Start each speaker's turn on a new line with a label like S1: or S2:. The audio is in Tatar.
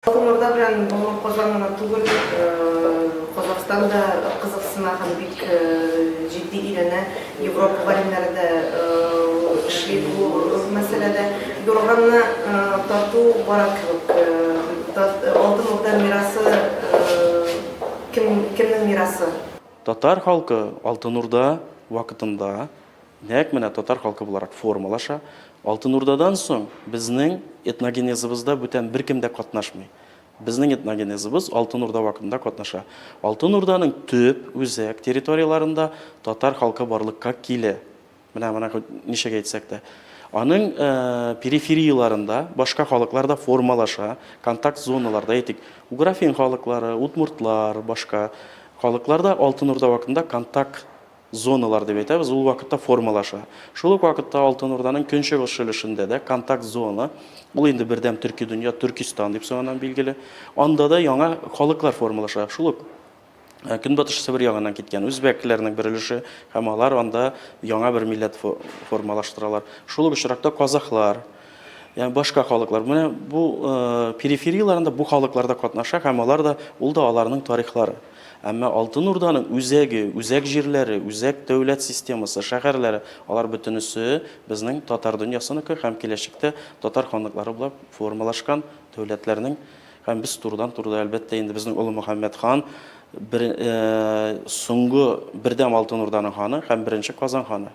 S1: Коморда белән Бомон Казан гына түгел, Казахстан да кызыксына һәм бик җитди өйрәнә. Европа галимнәре дә эшли бу мәсьәләдә. Юрганны тарту бара кебек. Алтын Урда мирасы кемнең мирасы? Татар халкы
S2: Алтын Урда вакытында Нәкъ менә татар халкы буларак формалаша. Алтын Урдадан соң безнең этногенезыбызда бүтән беркем дә катнашмый. Безнең этногенезыбыз Алтын Урда вакытында катнаша. Алтын Урданың төп, үзәк, территорияләрендә татар халкы барлыкка килә. Менә моны хоть ничек әйтсәк тә. Аның периферияләрендә башка халыклар да формалаша, контакт зоналарда, әйтик, уграфин халыклары, удмуртлар, башка халыклар да Алтын Урда вакытында контакт Зоналар дип әйтәбез, ул вакытта формалаша. Шул ук вакытта Алтын Урданың көнчыгыш өлешендә дә контакт зона, ул инде бердәм төрки дөнья, Төркистан дип соңыннан билгеле, анда да яңа халыклар формалаша. Шул ук Көнбатыш Себер ягыннан киткән үзбәкләрнең бер өлеше һәм алар анда яңа бер милләт формалаштыралар. Шул ук очракта казахлар, Ягъни башка халыклар. Менә бу периферияләрендә бу халыклар да катнаша һәм алар да ул да аларның тарихлары. Әмма Алтын Урданың үзәге, үзәк җирләре, үзәк дәүләт системасы, шәһәрләре, алар бөтенесе безнең татар дөньясыныкы һәм киләчәктә татар ханлыклары булып формалашкан дәүләтләрнең һәм без турыдан-туры да, әлбәттә, инде безнең Олы Мөхәммәд хан бер, соңгы бердәм Алтын Урданың ханы һәм беренче Казан ханы.